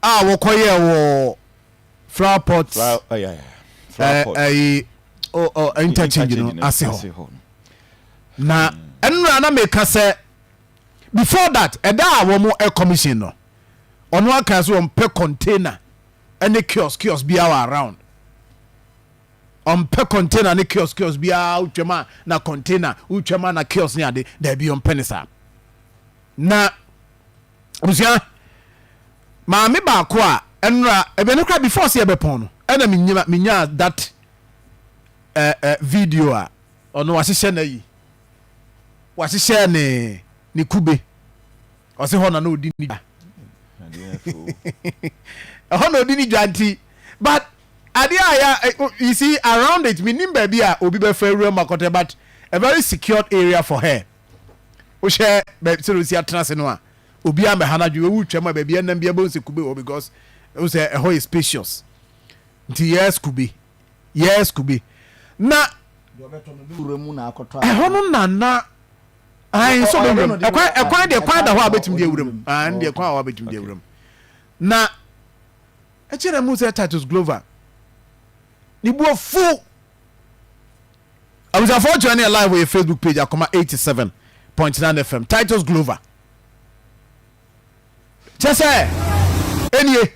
a wɔkɔyɛɛ wɔ flower pot ɛyi o o interchange no ase hɔ na nnura na meka sɛ before that ɛda a wɔn commission no ɔno aka so wɔn pɛ container ɛne kiosk kiosk bi awɔ around wɔn pɛ container ne kiosk kiosk bi awɔ twɛm a na container wotwɛm a na kiosk ne ade dɛbi wɔn pɛ ne saa na. abusua maame baako a ɛnora ɛbɛ no kora before sɛ ɛbɛpɔn no ɛna menyima menyaa that eh, eh, video a ɔno wahyehyɛ no ayi wahyehyɛ ne ne kube ɔse hɔ na na ɔdi ne dwa ɛhɔ na ɔdi ne dwa nti but adeɛ a ya eh, oh, you see around it menim baabi a obi bɛfa awura mu akɔtɛ but a very secured area for her wohyɛ baabi sɛ osi atena ase no a obiara mbɛha no adwene owu twam a baabi ɛnam biara bɛhu sɛ kube wɔ because ɛhu sɛ ɛhɔ yɛ spacious nti yes kube yes kube na ɛhɔ no nana ayi nso bɛ wuram ɛkwan ɛkwan deɛ kwan da hɔ a bɛtumi deɛ wuram ayi deɛ kwan a bɛtumi deɛ wuram na ɛkyerɛ mu sɛ Titus Glover ne bu afu. Abusuafoɔ kyerɛ ne yɛ live wɔ yɛ Facebook page Akoma eighty seven point nine FM Titus Glover kyɛ sɛ ɛnie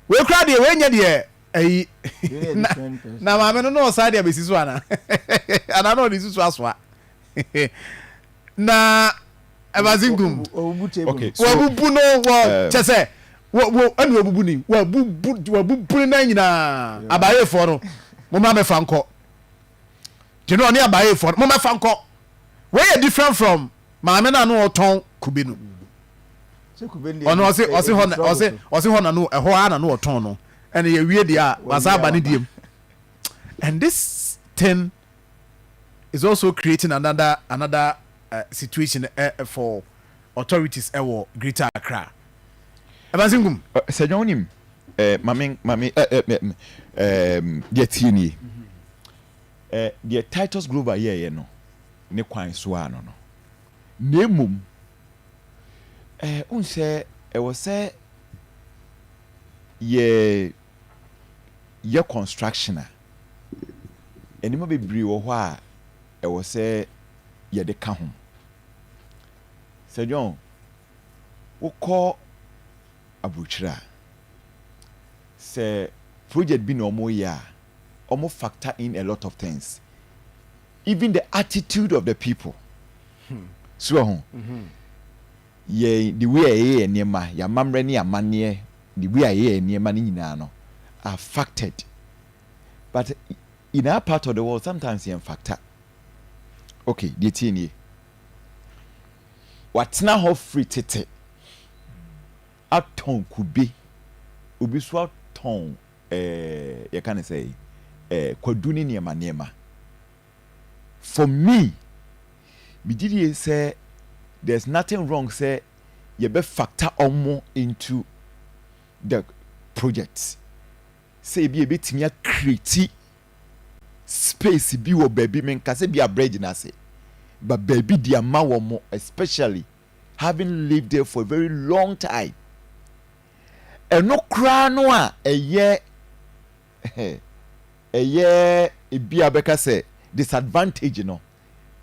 wei koraa deɛ wei nyɛ deɛ ayi na, na maame no na ɔsan de abɛsi so ana anaa na ɔde susu asoa na ɛbadze gu mu. Wɔabubu no wɔ kyɛ sɛ ɛna wɔabubu ni wɔabubu wɔabubu ne nan nyinaa abaayɛfoɔ no mo ma mɛfa nkɔ te no ɔne abaayɛfoɔ no mo mɛfa nkɔ wei yɛ different from maame no ano ɔtɔn kube no ɔno ɔse ɔse hɔ na ɔse ɔse hɔ na no ɛhɔ ara na no ɔtɔn no ɛna yɛwie deɛ a wasa aba ne diem and this thing is also creating another another uh, situation uh, for authorities uh, wɔ Greater Accra. Ɛbansi nkum. Sɛ dwa wonim maame maame deɛ tie nie deɛ Titus Grover yɛɛyɛ no ne kwan so a no no na mmom wohu sɛ ɛwɔ sɛ yɛ yɛ construction a, nneɛma bebree wɔ hɔ a ɛwɔ sɛ yɛde ka ho. Sɛ John, wokɔ aburokyire a, sɛ project bi na wɔreyɛ a, wɔn factor in a lot of things, even the attitude of the people. Hmm. So wɔ ho. Mm-hmm. Yɛ the way a yɛyɛ nneɛma, yɛn amammerɛ ne amanneɛ The way a yɛyɛ nneɛma no nyinaa no affected but in our part of the world sometimes yɛn factor okay deɛ tie nie watena hɔ firi tete atɔn kube obi so atɔn ɛɛ eh, yɛka ne sɛ ɛɛ eh, kwadu ne nneɛma nneɛma. for me me gye die sɛ there's nothing wrong sɛ yɛ bɛ factor ɔmo into the project sɛ ebi a yɛ bɛ tumi a create space bi wɔ baabi me nka sɛ bi a bridge no ase but baabi de ama wɔmo especially having lived there for a very long time ɛno koraa no a ɛyɛ ɛyɛ ebi a bɛka sɛ disadvantage no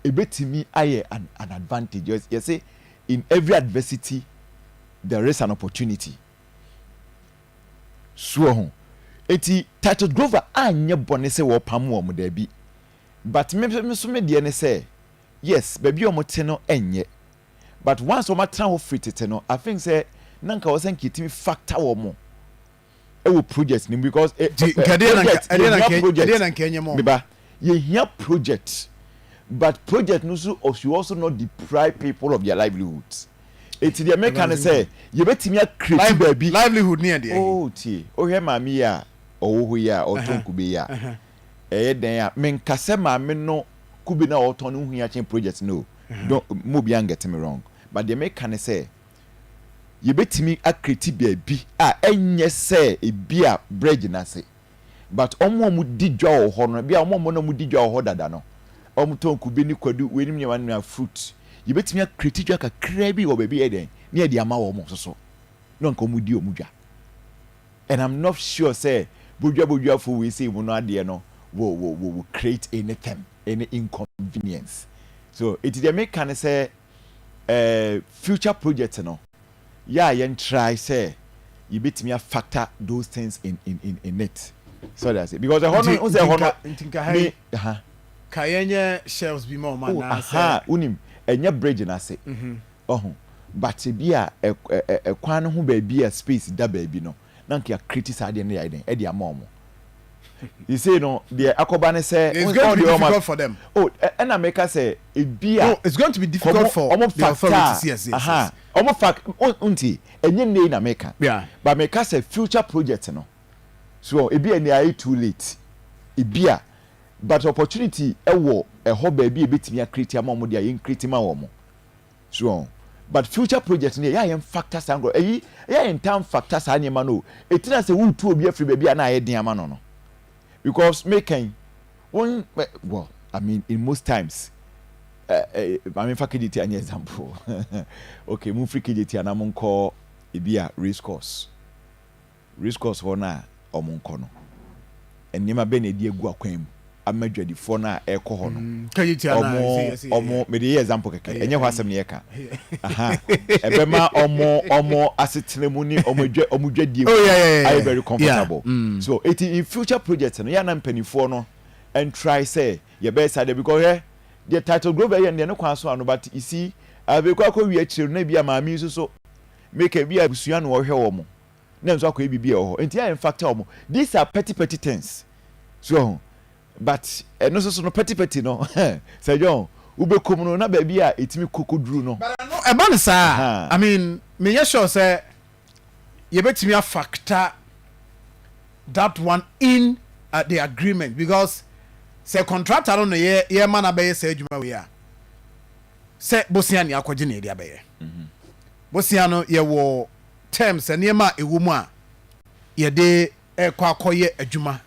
ebetumi ayɛ an an advantage Yɛ yɛse in every adversity there is an opportunity so wɔ ho eti Titus Grover anyɛ bɔne sɛ wɔpam wɔn daabi but me me so me deɛ ne sɛ yes baabi a wɔn te no ɛnyɛ but once wɔn atena hɔ firi tete no I think sɛ na nka wɔsɛ nka etumi factor wɔn ɛwɔ project ni because ɛ ɛ project yɛ hia project mi ba yɛ hia project but project no so ɔsi ɔso not deprive people of their livelihoods eti deɛ mɛka ne sɛ yɛbɛtumi akireti baabi livelihood ni yɛ deɛ oh tie ohwɛ maame yi a ɔwɔ hɔ yi a ɔtɔn nkube yi a ɛyɛ dɛn a menkasɛ maame no kube na ɔtɔn no ho hia kyɛn project no o don mo bi angɛte me wrong but deɛ mɛka ne sɛ. yɛbɛtumi akreti baabi a ɛnyɛ sɛ ebia berɛ gyina ase but wɔn a wɔdi dwa wɔ hɔ no ebia wɔn a wɔn na wɔdi dwa wɔ hɔ dada no wɔtɔn kube ne kwadu weinom nneɛma no nyinaa fruit yɛbɛtumi akreti dwa kakraa bi wɔ baabi yɛ dɛn ne yɛde ama wɔn nso so na nka wɔn di wɔn dwa and I'm not sure sɛ bodwa bodwafo wei sei mu no adeɛ no will, will, will, will create anything any inconvenience so eti deɛ meka ne sɛ eh, future project no, yɛ a yɛn try sɛ yɛbɛtumi a factor those things in in in in it. So wate aseɛ? Because ɛhɔ no, Nti, wohu sɛ nti ɛhɔ nka, no, nti nka ha me, yi, aha, ka yɛnyɛ shelves bi ma wɔn oh, anaa sɛ, ahaa, wonim, ɛnyɛ bridge no ase, mhm, wahu, but ebi a ɛ, ɛ, ɛ, kwan no ho baabi a space da baabi no, na nka yɛakreti saa adeɛ no de ayɛ dɛn de ama wɔn sisei no deɛ akɔba ne sɛ It's going to be ɔdeɛ ɔma difficult for them. o ɛ- ɛna meka sɛ ebi a No, it's going to be difficult kɔmo for ɔmo the fakta authorities. Yes, yes, aha yes. ɔmo fak o- nti ɛnyɛ nnɛ yi na meka Yeah. but meka sɛ future project no so ɔ, ebi a ɛnɛ ayɛ too late ebi a but opportunity ɛwɔ ɛhɔ baabi a ebetumi akreti ama wɔn deɛ a yɛn kreti ma wɔn. So wɔn? But future project no yɛ a yɛn factor saa nkorɔ ɛyi yɛ a yɛn ntaa nfactor saa nneɛma no o ɛtiri asɛ wo retu obi afiri baabi a na ayɛ den ama no no because me ka yi wɔn well I mean in most times eh, eh, maame nfa KJT anyɛ example okay mo nfiri KJT anaa mo nkɔ ebi a race course. Race course hɔ no a wɔkɔ no, nneɛma bɛn na ɛde agu akwan mu ama adwadifoɔ no a ɛrekɔ hɔ no? Wɔn, wɔn, mede yɛ example kɛkɛ, ɛnyɛ hɔ asɛm na yɛka. Aha, ɛbɛma wɔn, wɔn asetena mu ne wɔn adwa, wɔn dwadie mu ayɛ very comfortable. So, eti in future projects no, yɛ a na mpanimfoɔ no ntrae sɛ yɛbɛyɛ saa deɛ, because hwɛ, deɛ Titus Grover yɛ no deɛ, ne kwan so ano, but you see, afei kɔ akɔwie akyire no, na ebia maame yi nso so, meka ebia abusua na wɔhwɛ wɔn. na nso akɔyɛ biribi a ɛwɔ hɔ nti a ɛmfata wɔn. These are petty petty things. So wɔn ho. But ɛno nso so no petty petty no sɛ dwɛ wɔn wobɛkɔ mu no na baabi a ɛtumi kɔ kɔduru no. But ɛno ɛba no saa a, I mean menyɛ sure sɛ yɛbɛtumi a factor that one in the agreement because sɛ contractor no na yɛrema no abɛyɛ saa adwuma wei a, sɛ bosea na yɛakɔgye na yɛde abɛyɛ. Bosea no yɛwɔ terms, nneɛma a ɛwɔ mu a yɛde rekɔ akɔyɛ adwuma.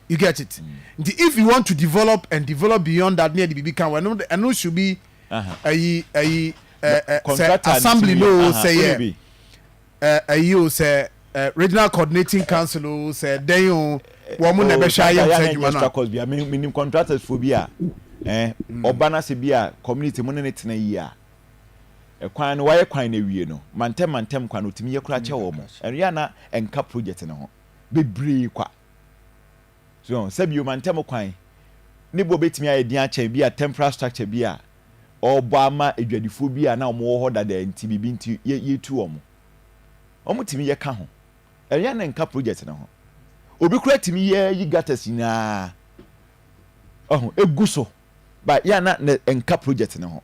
You get it? Nti if you want to develop and develop beyond that, ne yɛde biribi ka ho, ɛno ɛno should be ayi ayi sɛ assembly no o sɛ yɛ ayi o sɛ regional coordinating council o sɛ dɛn o wɔn mo na ɛbɛhwɛ ayɛ nsa adwuma no a. Menim contractors fo bi a ɔba no ase bi a community mo ne ne tena yie a Kwan no, wɔayɛ kwan no awie no, mantam mantam kwan no, otumi yɛ koraa kyɛ wɔn. Ɛno yɛ a na ɛnka project no ho bebree kwa. So wɔn sɛ bio mantam kwan ne boɔ betumi ayɛ den akyɛn bi a temporary structure bi a ɔrebɔ ama adwadifoɔ bi a na wɔn wɔ hɔ dada nti biribi nti yɛ yɛtu wɔn. Wɔn tumi yɛ ka ho. Ɛno yɛ a na ɛnka project no ho. Obi koraa tumi yɛ yi gutters nyinaa ɔho egu so ba yɛ a na ɛnka project no ho.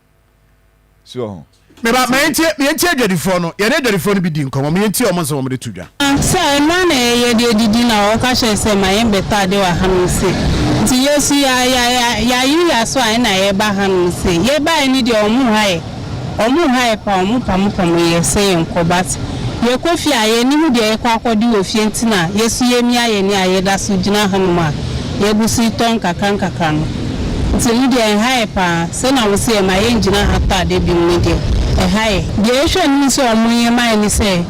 so ho. Meba ma yɛntie yɛntie adwadifoɔ no yɛne adwadifoɔ no bi di nkɔmmɔ ma yɛntie wɔn nsɛm wɔn de to dwa. Sɛ mmerɛ na yɛyɛ deɛ didi na wɔka kyerɛ sɛ ma yɛn bɛtɔ adeɛ wɔ hanom se nti yɛsu ya ya ya yaye yaso a ɛna yɛba hanom se yɛbaɛ ne deɛ wɔn haɛ wɔn haɛ pa wɔn pamo pamo yɛ sɛ yɛn kɔ but yɛkɔ fie a yɛn niho deɛ yɛkɔ akɔde wɔ fie nti na yɛsu yɛmia yɛni a yɛdaso gyina hanom a yɛguso tɔ nkakra nkakra no. Nti no deɛ ɛha yɛ paa. Sɛ na wo se yɛ ma yɛ ngyina ha tɔ ade biom no deɛ ɛha yɛ. Deɛ yɛ hwɛ anim sɛ ɔmo nyɛ ma yɛ ne sɛ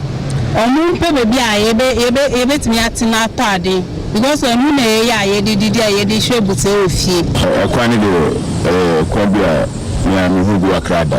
ɔmo mpɛ baabi a yɛbɛ yɛbɛ yɛbɛtumi atena atɔ ade because ɛho na yɛ yɛ a yɛ de didi a yɛ de hwɛ abusua wɔ fie. Ɛkwan no deɛ ɛyɛ kwan bi a me a me hu bi kakra da.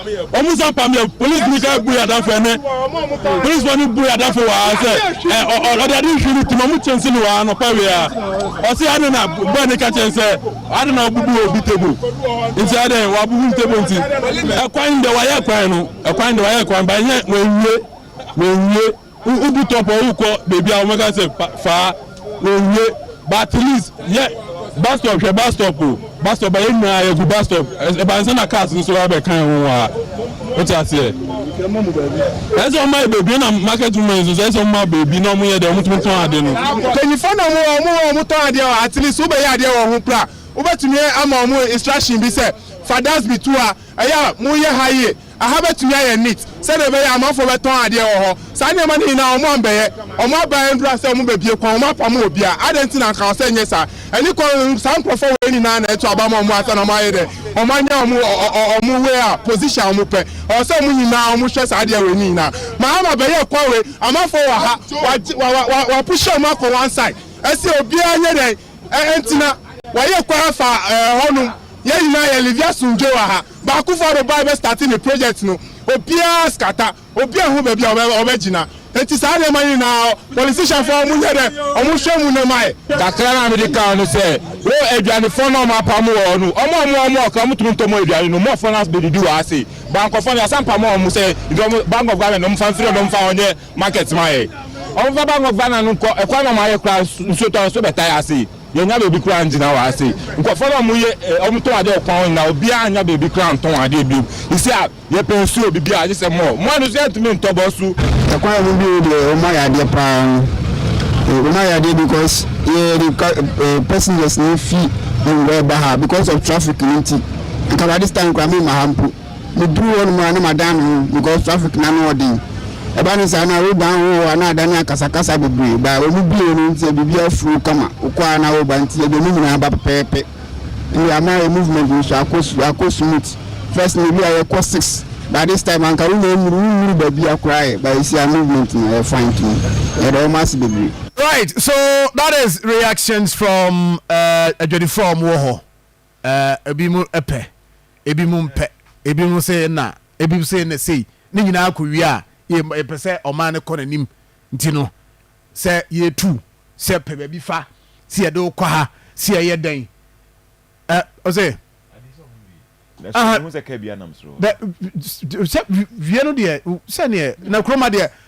Wɔn san pam yɛ polisini ka bu yadafo ɛnɛ polisifo ni bu yadafo wa sɛ ɛ ɔde adi nhwi ni tuma mu kyɛnse ni wa anɔpa wia ɔsi adi na bɔɛ ni ka kyɛn sɛ adi na ɔbubu obi table nti ɛdɛ wa bubu table nti ɛkwan dɛ wa yɛ kwan no ɛkwan dɛ wa yɛ kwan ba nyɛ wɔn wie wɔn wie. Wo bu top a wokɔ baby a wɔbɛka sɛ faa owie but at least yɛ bus stop hwɛ bus stop o bus stop a yɛn nyinaa yɛgu bus stop ɛba nsa na cars nso aba bɛka yɛn ho wɔ ha wote aseɛ ɛsɛ wɔn ayɛ baabi na market women nso ɛsɛ wɔn ayɛ baabi na wɔn yɛ deɛ wɔn tumi tɔn ade no. Mpanyinfoɔ na wɔn wɔ wɔn wɔ wɔn tɔn adeɛ wɔ at least wobɛyɛ adeɛ wɔ ho pra wobɛtumi ama wɔn instruction bi sɛ fa dasbi to ha ɛyɛ a mo yɛ ha yie Aha bɛtumi ayɛ neat sɛdeɛ ɛbɛyɛ a amanfoɔ bɛtɔn adeɛ wɔ hɔ. Saa nneɛma no nyinaa wɔn ammɛyɛ. Wɔn aban aduru asɛ wɔn bɛbue kwan, wɔn apamo obiara. Adɛn nti na anka ɔsɛ nyɛ saa? Ɛne kɔ, saa nkorɔfoɔ wei nyinaa na ɛto aba ma wɔn ansa na wɔn ayɛ dɛ? Wɔn anya wɔn wɔn wei a, position a wɔn pɛ. Ɛwɔ sɛ wɔn nyinaa wɔn hwɛ saa adeɛ wei no nyinaa. Mahama bɛyɛɛ kwan wei, amanfoɔ wɔ ha, wɔagye wa wa wa wɔapushe wɔn akɔ one side. Ɛsɛ obiara nyɛ dɛn? Ɛ ɛntena. Wɔayɛ kwan afa ɛɛ hɔnom. Yɛn nyinaa yɛ live asomdwoe wɔ ha. Baakofo arobae bɛ starte ne project no obiara skata obi ɛho baabi a ɔbɛ gyina enti saa nneɛma no nyinaa politician foɔ ɔmo nyɛ dɛ ɔmo hwɛ mu na ɛma yɛ. Kakra na mede ka ho ne sɛ wo aduanefoɔ no a ɔmo apamo wɔn no ɔmo a ɔmo wɔ ɔmo ɔkra ɔmo tumi ntɔ ɔmo aduane no ɔmo fɔn ase bɛdidi wɔ ha sei bankɔfoɔ no yasa mpamo ɔmo sɛ nti ɔmo bank of Ghana no ɔmo fa mfiri ɔmo mfa ɔnyɛ market ma yɛ ɔmo fa bank of Ghana no nkɔ ɛkwan na ɔmo ayɛ koraa nsuo tɔ nso bɛtae ha sei. Yɛnnya baabi koraa nngyina wɔ ha sei. Nkorɔfoɔ no a ɔmo yɛ eh ɔmo tɔn adeɛ wɔ kwan hɔ nyinaa obiaa nnya baabi koraa nntɔn adeɛ biom. Sisei a yɛpɛ nsuo, bibiaa gye sɛ mɔɔ. Mɔɔ no nso yɛntumi nntɔ bɔ so. Ɛkwan mu bio deɛ ɔmo ayɛ adeɛ paa no eh ɔmo ayɛ adeɛ bikɔs yɛde ka eh pɛsengɛs na efi Anguaa ba ha bikɔs ɔf trafik no nti. Nka by dis taim koraa memma ha mpo. Meduru hɔ nom a na madan me ho because traffic no ano ɔden. Ɛba ne saa no a woba ho hɔ a na adane akasakasa bebree but wɔn bue no nti biribiara flow kama. Wokɔ a na woba nti yɛde emu nyinaa ba pɛpɛɛpɛ. Ɛnde ama yɛ movement no so akɔ akɔ smooth. First no ebi a yɛkɔ six but this time anka wonya nnuru wonnuru baabia koraa ɛ but ɛsi a movement no ɛyɛ fine to me. Yɛda wɔn ase bebree. Right so that is reactions from adwadifoɔ a wɔn wɔ hɔ Ɛɛ, ebinom pɛ, ebinom mpɛ, ebinom se ɛnna, ebinom se ɛnna sei, ne nyinaa kowie a, yɛ, yɛpɛ sɛ ɔman no kɔ n'anim. Nti no, sɛ yɛretu, sɛ yɛpɛ baabi fa, sɛ yɛde wo kɔ ha, sɛ yɛyɛ dɛn, ɛ, ɔse, Aha, dɛ, sɛ wie no deɛ, sɛdeɛ, na kurom ha deɛ,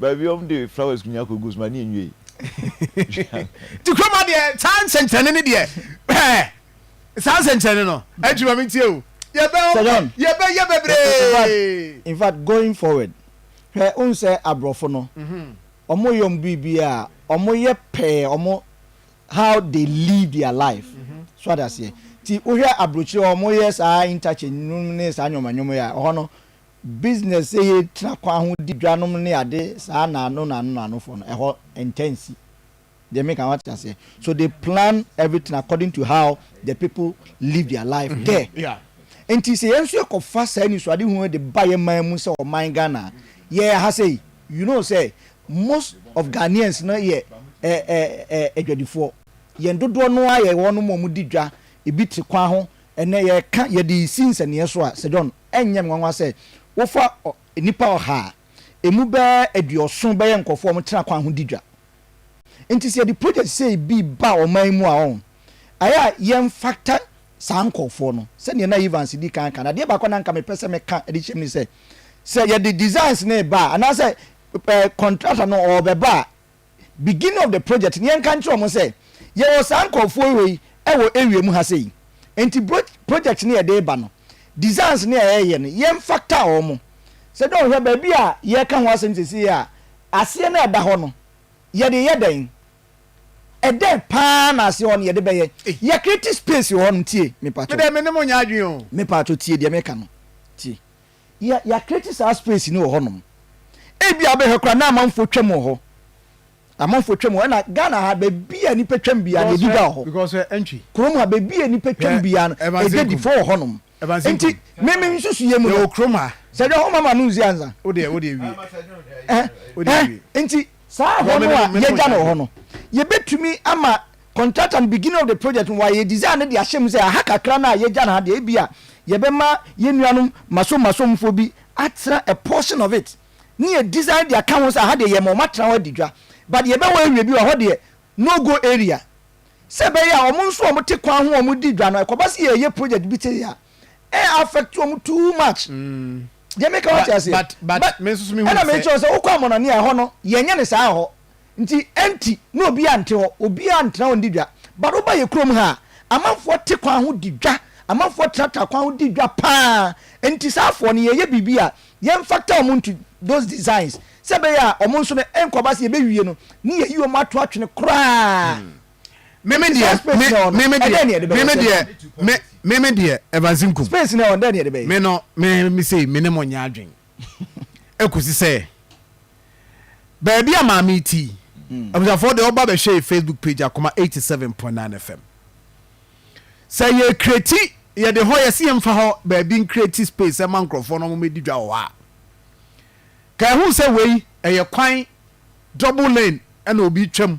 Baabi a wɔde flowers nyinaa kɔ gu so ma ne nwiei. Nti kurom ha deɛ saa nsɛnkyerɛnne no deɛ hwɛɛ saa nsɛnkyerɛnne no ɛtwi ma me ntie o yɛbɛ yɛbɛ yɛ bebree. In fact going forward hwɛ wohu sɛ aborɔfo no wɔn yɛ wɔn biribiara wɔn yɛ pɛɛ wɔn how they live their life so adaseɛ ti wohwɛ aburokyire wɔn yɛ saa interchange nom ne saa nyɔma nyɔma yi a ɛhɔ no business sɛ yɛ tena kwan ho di dwa nom ne ade saa na ano na ano na ano fɔ no ɛhɔ ntɛ nsi deɛ me ka wate aseɛ so they plan everything according to how the people live their life mm -hmm. there yeah. nti sɛ yɛn nso yɛ kɔ fa saa nisuade hu de ba yɛ man mu sɛ ɔman Ghana yɛ ha sɛ you know sɛ most of Ghanaians no yɛ adwadifoɔ yɛn dodoɔ no ara yɛ wɔn mu wɔn di dwa ebi te kwan ho ɛnɛ yɛka yɛde si nsɛnneɛ so a sɛ John Ɛnyɛ me nwanwa sɛ wofa nnipa ɔha a emu bɛyɛ aduɔson bɛyɛ nkurɔfo a wɔtena kwan ho di dwa. Enti sɛ yɛde projɛt sei bi ba ɔman yi mu a, ɔn, ɛyɛ a yɛmfata saa nkurɔfoɔ no. Sɛdeɛ na Evans di kan aka no, adeɛ baako a na anka mepɛ sɛ meka de hyɛ mu ne sɛ, sɛ yɛde designs no reba a, anaasɛ ɛ, contractor no ɔrebɛba a, beginning of the project no yɛnka nkyerɛ wɔn sɛ yɛwɔ saa nkurɔfoɔ wei wɔ area mu ha sei nti bro project no yɛde ba no designs no a yɛyɛ no yɛmfa ta wɔn sɛ dɛ ɔhwɛ baabi a yɛka ho asɛm sesei a aseɛ no a ɛda hɔ no yɛde yɛ dɛn ɛdɛn paa na aseɛ hɔ no yɛde bɛyɛ yɛ create space wɔ hɔ no tie mepatwo medɛ me ne mo nyɛ adwen o mepatwo tie deɛ meka no tie yɛ yɛ create saa space no wɔ hɔ nom ebi a bɛhwɛ koraa na amanfoɔ twam wɔ hɔ amanfoɔ twam wɔ ɛna Ghana ha baabi a nipa twam bia na ebi da wɔ hɔ kurom ha baabi a nipa twam bia no ɛgya di fo wɔ hɔ nom nti mimi nsusu yɛ mu no kurom ha sɛ dɛ hɔ mama no nzi anza wode wode wie ɛɛ nti saa hɔ no a yɛgya no wɔ hɔ no yɛbɛtumi ama Contractor no beginning of the project no wayɛ design no de ahyɛ mu sɛ aha kakra no a yɛagya no ha deɛ ebia yɛbɛma yɛn nuanom Masom-Masomfoɔ bi atena a portion of it ne yɛ design de aka ho sɛ aha deɛ yɛma wɔn atena hɔ adi dwa but yɛbɛwɔ area bi wɔ hɔ deɛ no go area sɛ ɛbɛyɛ a wɔn nso wɔte kwan ho a wɔdi dwa no ɛkɔba sɛ yɛreyɛ project bi te a ɛ affect wɔn too much deɛ meka wate aseɛ but ɛna mekyerɛ sɛ wokɔ Amɔnane a ɛhɔ no yɛnyɛ ne saa hɔ Nti ɛnti na obiaa nte hɔ, obiaa ntena hɔ ndi dwa. But woba yɛ kurom ha a, amanfoɔ te kwan ho di dwa, amanfoɔ tenatena kwan ho di dwa paa. Nti saa afoɔ no yɛyɛ biribi a yɛn factor wɔn into those designs sɛ ɛbɛyɛ a wɔn nso no ɛnkɔ ba sɛ yɛbɛwie no ne yɛyi wɔn ato atwene koraa. Meme deɛ, me, meme deɛ, meme deɛ, me, meme deɛ, Evans Nkum. Space no ɛhɔ, dɛn ne yɛde bɛyɛ? Me no, me, me sei, me ne mo nyɛ adwen. Ɛkɔsi sɛ baabi a maame yi te yi, abusuafoɔ deɛ ɔba bɛhwɛ yɛ Facebook page Akoma eighty seven point nine FM. Sɛ yɛ create yɛde hɔ yɛsi yɛn fa hɔ baabi ncreate space ɛma nkorɔfoɔ na wɔn bɛdi dwa wɔ hɔ a, ka ɛho sɛ wei ɛyɛ kwan double lane ɛna obi twam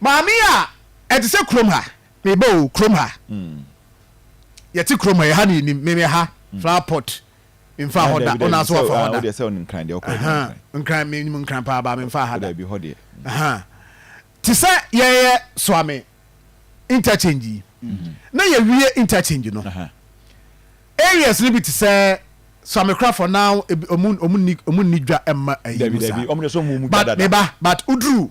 Maame a ɛte sɛ kurom ha meba o kurom ha yɛte kurom ha ɛha ne yɛnim meme ha flower pot memfa hɔ da wona so wafa hɔ da nkran menim nkran paa baa memfa ha da te sɛ yɛyɛ soame interchange yi na yɛwie interchange no areas no bi te sɛ soame korafo na ɔmu nni dwa mma ayi mu saa but meba but woduru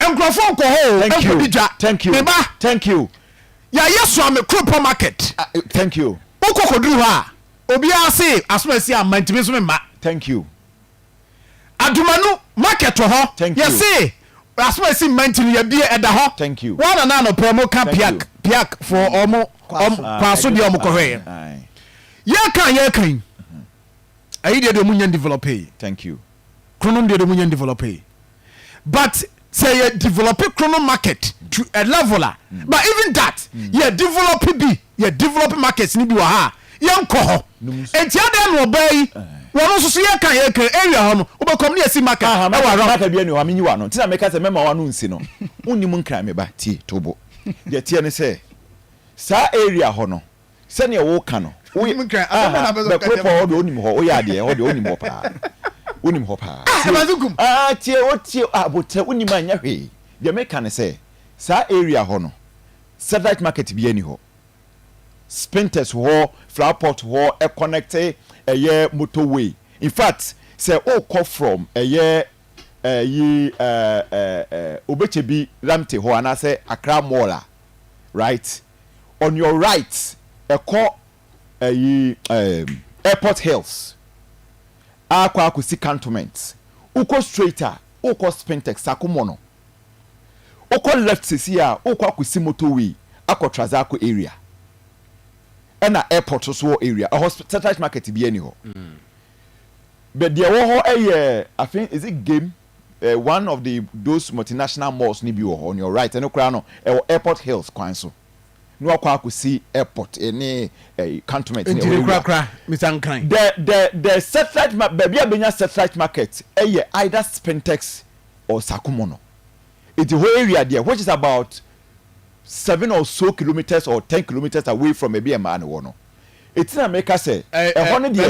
Nkurɔfo nkɔ hɔ o, Thank you. nkɔdi dwa. Thank you. Me ba, Thank you. yɛayɛ Suame Kuropɔn Market. Ah, eh, Thank you. Wokɔ kɔduru hɔ a, obiara se aso a asi amma nti me nso memma. Thank you. Adumanu Market wɔ hɔ, Thank you. yɛse aso a asi mma nti no yɛabie, ɛda hɔ. Thank you. Wo ara na anɔpa yi wɔka Thank you. Piak, Piak foɔ, wɔn, wɔn, Kwaso. Ah, Kwaso deɛ wɔn kɔhwɛeɛ. Aye. Yɛreka a yɛreka yi, ayi deɛ deɛ wɔn nnya ndevelopee. Thank you. kronom deɛ de mu nyɛ develope but sɛ yɛ develope kronom market to a level a mm. but even that mm. yɛ develope bi yɛ develope markets ni bi wɔ ha a yɛnkɔ hɔ nti adeɛ na ɔbaa yi eh. wɔn nso so yɛka yɛka area hɔ no wobɛkɔm ne yɛsi market ɛwɔ around market bi ɛni hɔ amenyi wa no ntina mɛka sɛ mɛma wa no nsi no wonni mu nkran meba tie tobo deɛ teɛ ne sɛ saa area hɔ no Sɛdeɛ woka no, woyɛ aah Bɛkoropɔn hɔ deɛ wonim hɔ, woyɛ adeɛ hɔ deɛ wonim hɔ paa, wonim hɔ paa, aah tie o tie o, Aboterɛ wonim a nyɛ hwee, deɛ meka ne sɛ saa area hɔ no satellite market biara nni hɔ, Spintex wɔ hɔ, Flower Pot wɔ hɔ ɛconnecte ɛyɛ motor way, infact sɛ wokɔ from ɛyɛ ɛyi ɛɛ ɛɛ Obekyebi Ramte hɔ anaasɛ Accra mall a right. on your right ɛkɔ ɛyi ɛɛm airport hills akɔ akɔsi cantonment wokɔ straight a wokɔ spintex sakomɔ no wokɔ left sɛsi a wokɔ akɔsi motor way akɔ trazako area ɛna airport so wɔ area ɛhɔ satellite market bia ni hɔ bɛ deɛ ɛwɔ hɔ ɛyɛ afei is it game eh, one of the those multinational malls no bi wɔ hɔ on your right ɛno koraa no ɛwɔ airport hills kwan so na wakɔ akɔsi airport eh, ne eh, cantonment ne ɛwɔ korakora mr nkran the the the satellite ma baabi a bɛnya satellite market ɛyɛ either spintex or sakumo no eti hɔ area deɛ which is about seven or so kilometers or ten kilometers away from baabi a mmaa no wɔ no Eti na meka sɛ, Ɛhɔ no deɛ,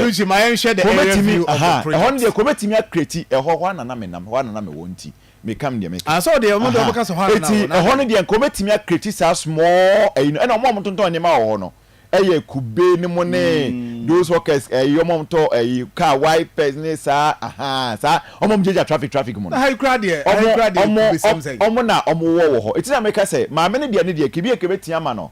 kɔbɛtumi, ahaa, ɛhɔ no deɛ, kɔbɛtumi akreti, ɛhɔ, hɔ ara na na menam, hɔ ara na na mewɔ nti, mekam deɛ meka. Ahaa. Eti, ɛhɔ no deɛ, nkɔbɛtumi akreti saa small ɛyi no, ɛna wɔn a wɔtontɔn nneɛma wɔ hɔ no, ɛyɛ kube no mo ne, those hawkers, ɛyi, wɔn a wɔtɔ ɛyi, car wipers ne saa, ahaa, saa, wɔn a wɔgyinagyina traffic, traffic mu no, wɔn, wɔn, wɔn na wɔwɔ wɔ hɔ. Eti na meka sɛ, Maame no deɛ ne deɛ, kebia kɛbɛtumi ama no,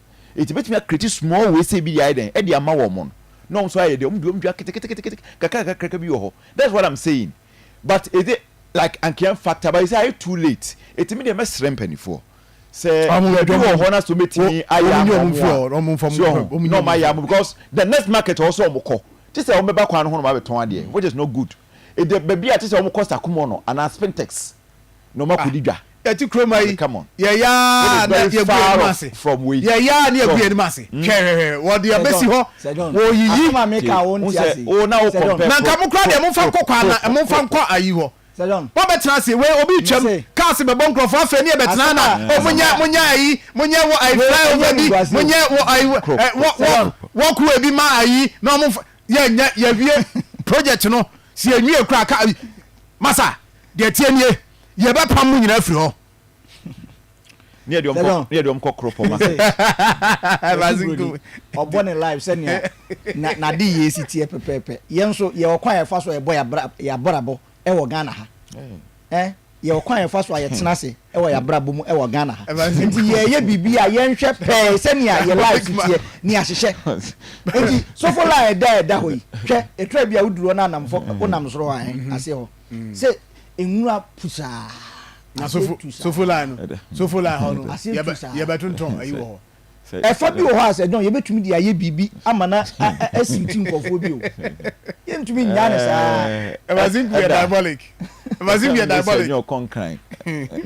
Enti mɛtumi akreati smɔɔl wei sei bi de ayɛ dɛn? Ɛde ama wɔn no. Na wɔn nso ayɛ dɛn? Wɔn de wɔn dua keteketeketeke kakrakakraka bi wɔ hɔ. That's what I'm saying. But is it like anka yɛn factor but you say ayɛ too late. Enti me deɛ mɛsrɛ mpaninfoɔ sɛ baabi wɔ hɔ na sɛ wɔn bɛtumi ayɛ ama wɔn a, so wɔn ho, na wɔn ayɛ ama wɔn because the next market a ɛwɔ sɛ wɔn kɔ, te sɛ wɔn bɛba kwan no ho na wɔn abɛtɔn adeɛ which is not good. Ɛdɛ baabi a te sɛ wɔn kɔ Sakumono anaa Spintex na ɔma kɔdi dwa. Yɛte kurom ha yi, yɛyɛ ara na yɛagu yɛn ase. Yɛyɛ ara na yɛagu yɛn anim ase. Hmm. Hwɛ, hwɛ, hwɛ, wɔde abɛsi hɔ, wɔyiyi. Na nka mo kora deɛ momfa nkɔ kwan na momfa nkɔ ayi hɔ. Wɔbɛtena ase, wei obi twam, kaase bɛbɔ nkurɔfoɔ afei ne yɛbɛtena na o monyɛ monyɛ ayi, monyɛ wɔ ayi flyover bi, monyɛ wɔ ayi wɔ wɔko ebi ma ayi na wɔn yɛnyɛ yɛwie project no si yɛnwie kora ka masa. Deɛ ɛteɛ nie, Yɛbɛpam mo nyinaa afiri hɔ. Ne yɛde wɔn kɔ ne yɛde wɔn kɔ koro pɔmma. Ɛbaase nko mu. Ɔbɔ ne life sɛnea na n'ade yie si teɛ pɛpɛɛpɛ. Yɛn nso yɛwɔ kwan a yɛfa so a yɛbɔ yɛn abrabɔ wɔ Ghana ha. Ɛ yɛwɔ kwan a yɛfa so a yɛtena ase wɔ yɛn abrabɔ mu wɔ Ghana ha. Nti yɛyɛ biribi a yɛnhwɛ pɛɛ sɛnea yɛn life si teɛ ne ahyehyɛ. Nti sofo line a ɛda a ɛda hɔ yi, hwɛ, ɛtra bi a woduru hɔ na anamfo wonam soro hɔ a, ɛ aseɛ hɔ. sɛ nwura pu saa aseɛ tu saa sofo line no sofo line hɔ no aseɛ tu saa yɛbɛtontɔn ayi wɔ hɔ ɛfa bi wɔ hɔ a sɛ dɔn yɛbɛtumi de ayɛ biribi ama na asi ti nkɔfoɔ bi o yɛntumi nyaa ne saa ɛma zinc yɛ diabolic ɛma zinc yɛ diabolic